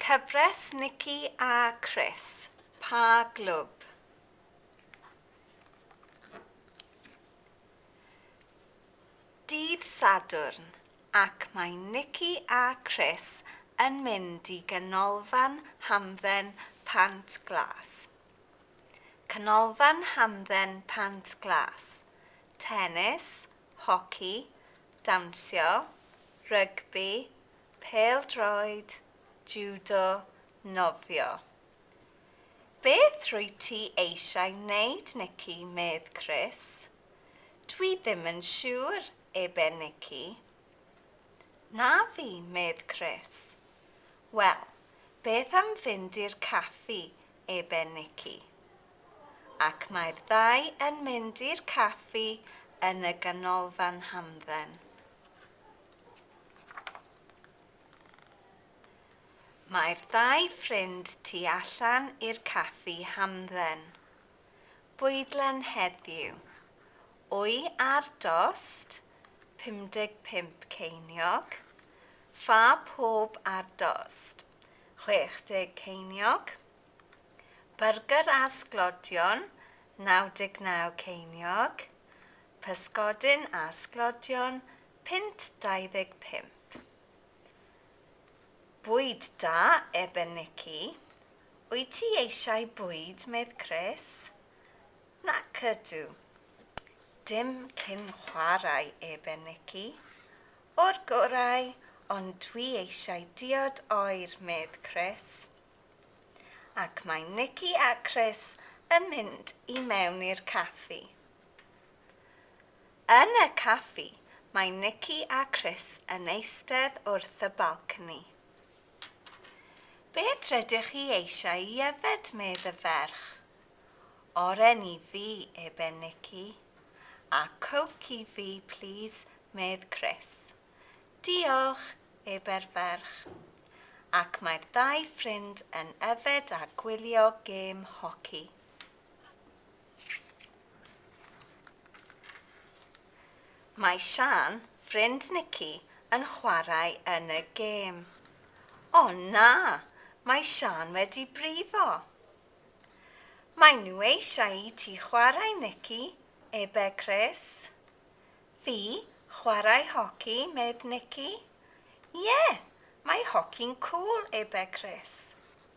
Cyfres Nici a Chris, Pa Glwb? Dydd Sadwrn ac mae Nici a Chris yn mynd i Ganolfan Hamdden Pant Glas. Canolfan Hamdden Pant Glas, tenis, hoci, dawnsio, rygbi, Pêl-droed, Judo, Nofio. Beth rwyt ti eisiau wneud Nikki, medd Chris. Dwi ddim yn siŵr, ebe Nikki. Na fi, medd Chris. Wel, beth am fynd i'r caffi, ebe Nikki. Ac mae'r ddau yn mynd i'r caffi yn y ganolfan hamdden. Mae'r ddau ffrind tu allan i'r caffi hamdden. Bwydlen heddiw. Wy ar dost, 55 ceiniog. Ffa pob ar dost, 60 ceiniog. Byrgyr a sglodion, 99 ceiniog. Pysgodyn a sglodion, Punt 25. Bwyd da, ebe Nici. Wyt ti eisiau bwyd, medd Chris. Nac ydw. Dim cyn chwarae, ebe Nici. O'r gorau, ond dwi eisiau diod oer, medd Chris. Ac mae Nici a Chris yn mynd i mewn i'r caffi. Yn y caffi, mae Nikki a Chris yn eistedd wrth y balcony. Beth rydych chi eisiau i yfed, medd y ferch? Oren i fi, ebe Nikki. A coke i fi, plîs, medd Chris. Diolch, ebe'r ferch. Ac mae'r ddau ffrind yn yfed a gwylio gêm hoci. Mae Siân, ffrind Nici, yn chwarae yn y gêm. O na! Mae Siân wedi brifo! Maen nhw eisiau i ti chwarae, Nici, ebe Chris. Fi? Chwarae hoci? medd Nici. Ie! Mae hoci'n cŵl, ebe Chris.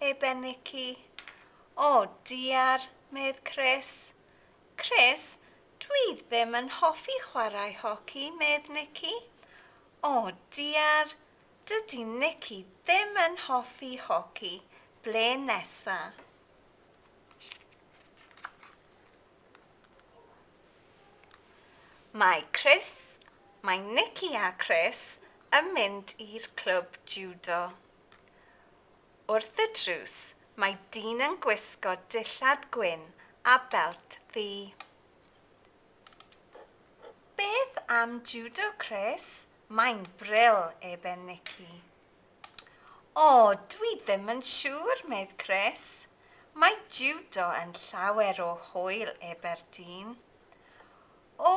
ei benycu. O diar, medd Chris. Chris, dwi ddim yn hoffi chwarae hoci, medd Nicky. O diar, dydi Nicky ddim yn hoffi hoci, ble nesa? Mae Chris, mae Nicky a Chris yn mynd i'r clwb jiwdo. Wrth y drws mae dyn yn gwisgo dillad gwyn a belt ddu. Beth am judo Chris? Mae'n bril, eben Nicky. O, dwi ddim yn siŵr, medd Chris. Mae judo yn llawer o hwyl, ebe'r dyn. O,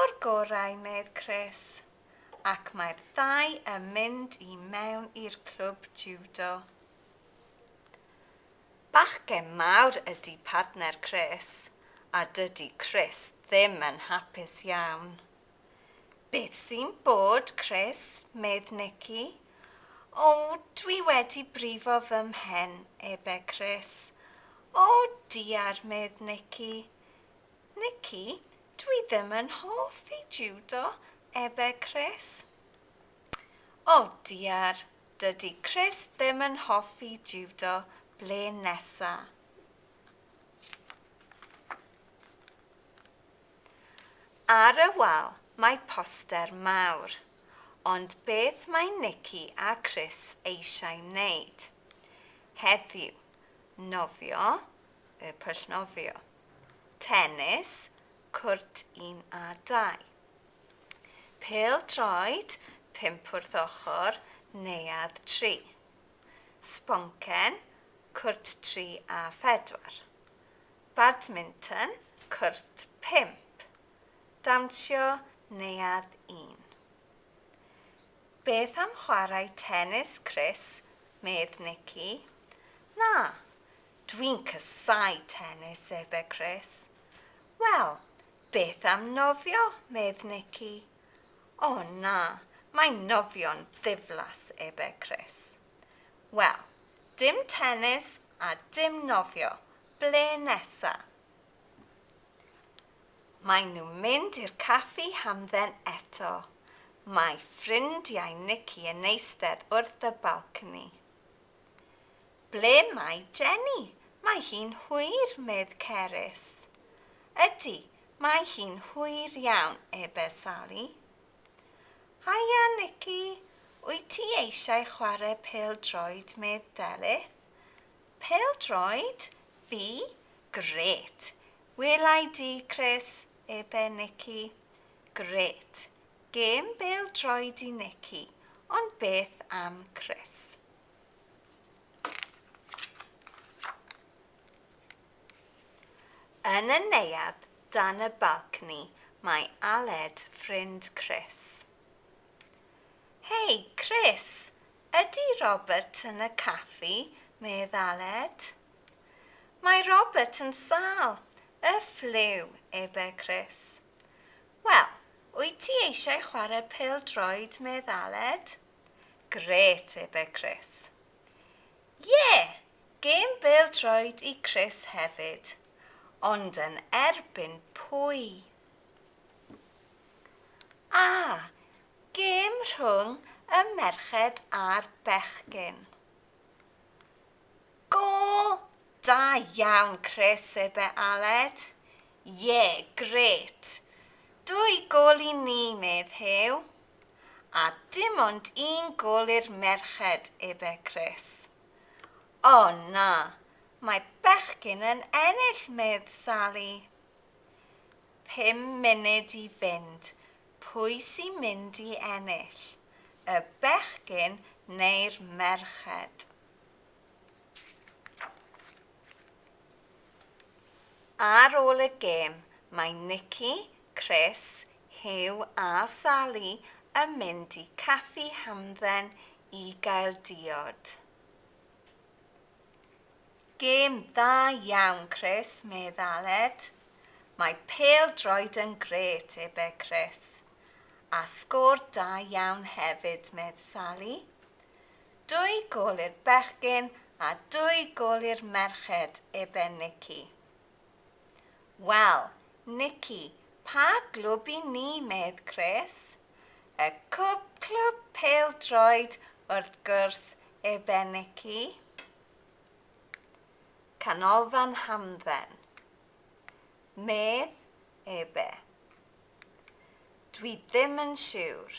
o'r gorau, medd Chris. ac mae'r ddau yn mynd i mewn i'r clwb jiwdo. Bachgen mawr ydi partner Chris a dydi Chris ddim yn hapus iawn. Beth sy'n bod Chris? medd Nikki. O, dwi wedi brifo fy mhen, ebe Chris. O, diar, medd Nikki. Nikki, Dwi ddim yn hoffi jiwdo, ebe Chris. O diar, dydi Chris ddim yn hoffi jiwdo, ble nesa? Ar y wal mae poster mawr, ond beth mae Nikki a Chris eisiau wneud heddiw? Nofio, y pwll nofio. Tenis, cwrt un a dau. Pêl-droed, pump wrth ochr, neuadd tri. Sboncen, cwrt tri a phedwar. Badminton, cwrt pump. Dawnsio, neuadd un. Beth am chwarae tenis, Chris? medd Nikki. Na, Dwi'n casáu tenis, efe Chris. Wel, beth am nofio, medd Nicky. O na, mae nofio'n ddiflas, efe Chris. Wel, dim tenis a dim nofio, ble nesa? Maen nhw'n mynd i'r caffi hamdden eto. Mae ffrindiau Nicky yn eistedd wrth y balcony. Ble mae Jenny? Mae hi'n hwyr, medd Cerys. Ydy, mae hi'n hwyr iawn, ebe Sali. Haia, Nicky, wyt ti eisiau chwarae pêl-droed, medd Delyth. Pêl-droed? Fi? Grêt! Wela i di, Chris, ebe Nicky. Grêt. Gêm bêl-droed i Nicky, ond beth am Chris? Yn y neuadd dan y balcni mae Aled ffrind Chris. Hei, Chris, ydy Robert yn y caffi? medd Aled. Mae Robert yn sâl, y ffliw, ebe Chris. Wel, wyt ti eisiau chwarae pêl-droed, medd Aled? Grêt, ebe Chris. Ie! Gêm bêl-droed i Chris hefyd. Ond yn erbyn pwy? A, gêm rhwng y merched a'r bechgyn. Gôl da iawn Chris ebe Aled? Ie, grêt! Dwy gôl i ni, medd Huw. A dim ond un gôl i'r merched ebe Chris. O na, mae bechgyn yn ennill, medd Sali. Pum munud i fynd, pwy sy mynd i ennill, y bechgyn neu'r merched? Ar ôl y gêm, mae Nikki, Chris, Huw a Sali yn mynd i Caffi Hamdden i gael diod. Gêm dda iawn, Chris, medd Aled. Mae pêl-droed yn grêt, ebe Chris. A sgôr da iawn hefyd, medd Sali. Dwy gol i'r bechgyn a dwy gol i'r merched, ebe Nici. Wel, Nici, pa glwb i ni, medd Chris? Y cwb clwb pêl-droed, wrth gwrs, ebe Nici. Canolfan hamdden, medd ebe. Dwi ddim yn siwr.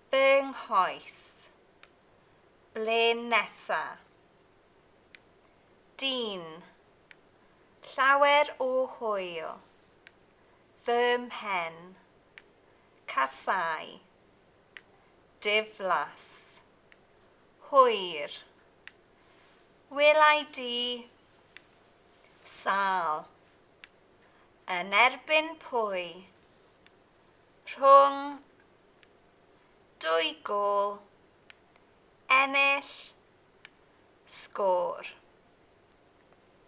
Fy nghoes. Ble nesa? Dyn. Llawer o hwyl. Fy mhen. Casáu. Diflas. Hwyr. Welai di. Sâl. Yn erbyn pwy? rhwng dwy gôl, ennill, sgôr.